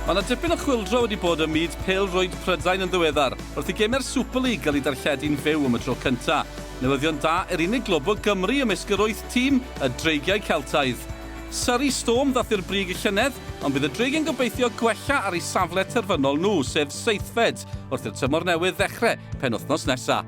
Mae 'na dipyn o chwyldro wedi bod ym myd pêl-rwyd Prydain yn ddiweddar, wrth i gemau'r Super League gael eu darlledu'n fyw am y tro cynta'. Newyddion da i'r unig glwb o Gymru ymysg yr wyth tîm, y Dreigiau Celtaidd. Surrey Storm ddath i'r brig y llynedd, ond bydd y Dreigiau'n gobeithio gwella ar eu safle terfynol nhw, sef seithfed. August wrth i'r tymor newydd ddechrau penwythnos nesaf.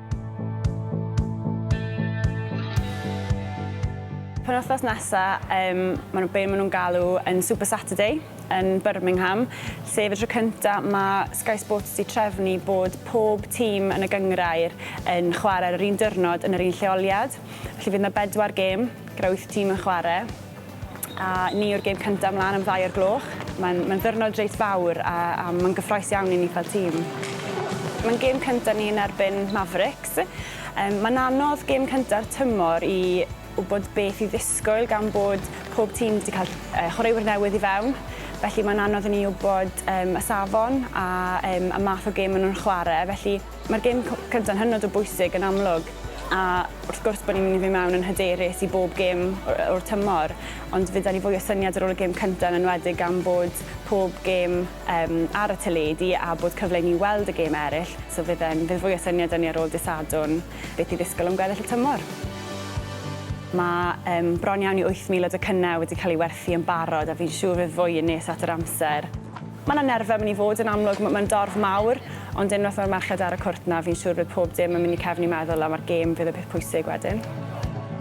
Penwythnos nesaf, um, maen nhw, be maen nhw'n galw yn Super Saturday yn Birmingham, sef y tro cyntaf mae Sky Sports wedi trefnu bod pob tîm yn y gyngrair yn chwarae ar yr un diwrnod yn yr un lleoliad. Felly fydd yna bedwar gêm gyda wyth tîm yn chwarae. A ni yw'r gêm cyntaf mlaen am ddau o'r gloch. Mae'n mae ddyrnod reit fawr a, a mae'n gyffroes iawn i ni fel tîm. Mae'n gêm cyntaf ni yn erbyn Mavericks. Um, mae'n anodd gêm cynta'r tymor i wybod beth i ddisgwyl gan bod pob tîm wedi cael uh, chwaraewyr newydd i fewn. Felly mae'n anodd i ni wybod um, y safon a, um, y math o gêm maen nhw'n chwarae. Felly Mae'r gêm cyntaf yn hynod o bwysig yn amlwg a wrth gwrs bod ni'n mynd i fynd mewn yn hyderus i bob gêm o'r tymor ond fe da ni fwy o syniad ar ôl y gêm cyntaf yn enwedig gan bod pob gêm um, ar y teledu a bod cyfle i ni weld y gêm eraill so fydd e'n fydd fwy o syniad â ni ar ôl disadwn beth i ddisgwyl am gweddill y tymor. Mae um, bron iawn i 8,000 o docynnau wedi cael ei werthu yn barod a fi'n siŵr fydd fwy yn nes at yr amser. Mae 'na nerfe yn mynd i fod yn amlwg, m- mae'n dorf mawr, ond unwaith mae'r merched ar y cwrt 'na, fi'n siŵr bydd pob dim yn mynd i cefn i meddwl am a'r gêm fydd y peth pwysig wedyn.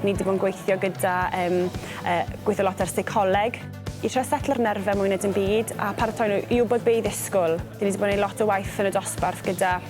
Ni 'di bod yn gweithio gyda yym yy gweithio lot ar seicoleg i trio setlo'r nerfe mwy na dim byd a paratoi nhw i wybod be' i ddisgwl. Ni 'di bod yn neud lot o waith yn y dosbarth gyda